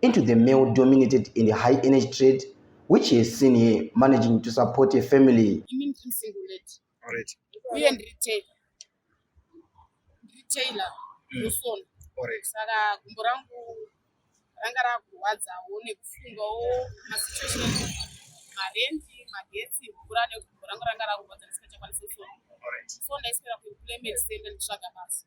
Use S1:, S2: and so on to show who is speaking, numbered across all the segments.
S1: into the male dominated and high energy trade which he has seen here managing to support a family
S2: uye
S3: ndiri tailor ndosona mm. saka
S2: gumbo rangu
S3: ranga rakurwadzawo nekufungawo masituation marendi magetsi mvura negumbo rangu ranga rakurwadza ndisikachakwanisi kusona so ndaiswera kuimplement sende nditsvaga basa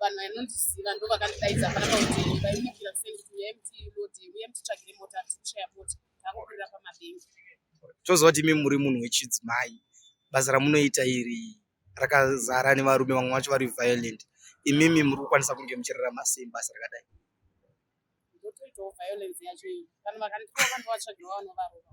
S3: vanhu vanondiziva ndo vakandidaidza panapa kuti vaimukira sei kuti uyai mutilodi uyai mutitsvagire mota tikushaya mota takukurira pamabhengi toziva kuti
S2: imi muri munhu wechidzimai basa ramunoita iri rakazara nevarume vamwe vacho vari violent imimi muri kukwanisa kunge muchirarama sei basa rakadai ndotoitawo
S3: violence yacho iyi vanhu vakandiaa vandovatsvagirawo vanovarova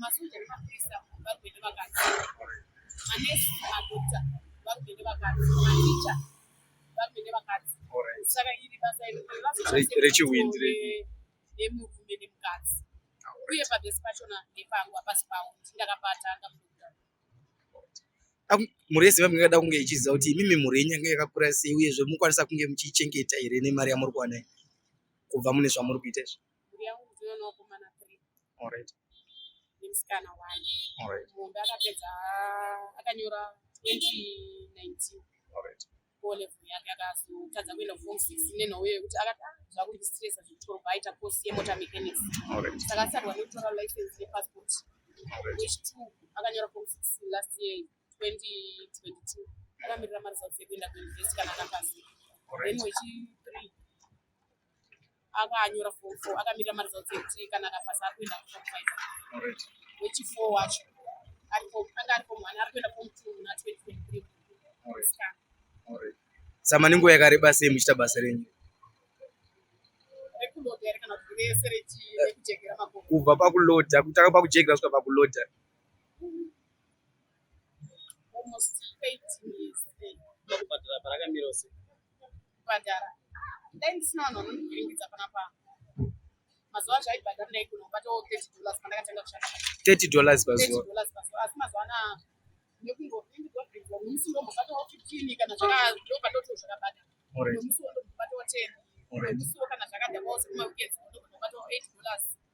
S3: Masoja nemapurisa varume nevakadzi, manesi, madokta varume nevakadzi, maticha varume nevakadzi. Saka iri basa rechiwindi
S2: nemurume
S3: nemukadzi uye pavhesi pachona ndepangu hapasi pavo ndakabata ndamudokta
S2: mhuri yeziva mingada kunge ichiziva kuti imimi mhuri yenyu yanga yakakura sei uyezve mukwanisa kunge muchiichengeta here nemari yamuri kuwana kubva mune zvamuri kuita izvi Mhuri yangu ndino
S3: nevakomana three. All right.
S2: Nemusikana
S3: one. All right. Muhombe akapedza akanyora 2019. All right.
S2: O level yake
S3: akazotadza kuenda form six nenhau yekuti akati ah, zvakundistresa zvekutoro kwaita course yemota mechanics. All right. Saka asarwa nekutora license nepassport. All right. Which two akanyora form six last year 2022 akamirira maresults ekuenda kuuniversity kana akapasa. All right. Then wechi three akanyora form four akamirira maresults ekuti kana akapasa ari kuenda kuform five wechifour wacho anga ari form one ari kuenda form two na twenty twenty three
S2: samani nguva yakareba sei muchiita basa renyu kubva pakuloda kutanga pakujekera svika pakuloda
S4: kubhadhara
S3: dai ndisina vanhu vanondiringidza panapa mazuva acho aibhadhara ndaigona kubatawo 30 dollars pandakatanga kushanda 30 dollars pazuva
S2: asi mazuva anaa
S3: nekungoindigobhidza nemusi ndombobatawo 15 kana zvakadokadotoo zvakabata nemusi wondombobatawo 10 nemusiwo kana zvakadhakwawo sekumaweekends ndombobatawo 8 dollars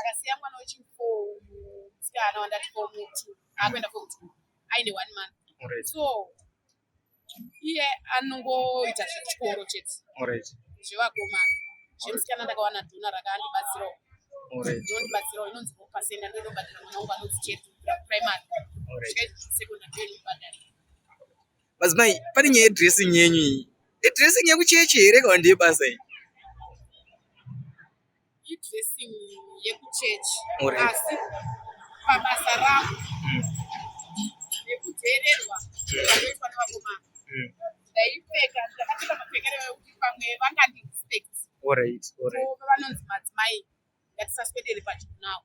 S3: akasiya mwana wechifo musikana wandati fo mutu akuenda fo mutu aine one month so iye anongoita zvechikoro chete zvevakomana zvemusikana ndakawana dhona rakandibatsirawo ndondibatsirawo inonzi pasenda ndonobhadhira mwana wangu anonzi chetu primary secondary ndonobhadhira
S2: madzimai pane nyaya yedressing yenyu iyi idressing yekuchechi here kana ndeyebasa iyi
S3: Idressing yekuchurch asi pabasa ravo mm. nekuteererwa zvakaitwa nevakomana mm. ndaipfeka ndakapfeka mapfekero ekuti pamwe vangandirespect vanonzi madzimai ngatisaswedere pachikunawo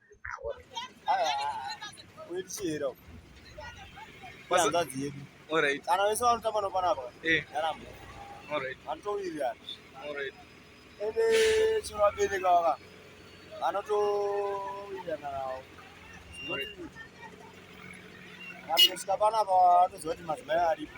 S5: kana vese vanotamba nopanapa yaramba vanotowirirana ende chino vabereka vaka vanotowirirana navo vanosvika panapa vatoziva kuti madzimai aripo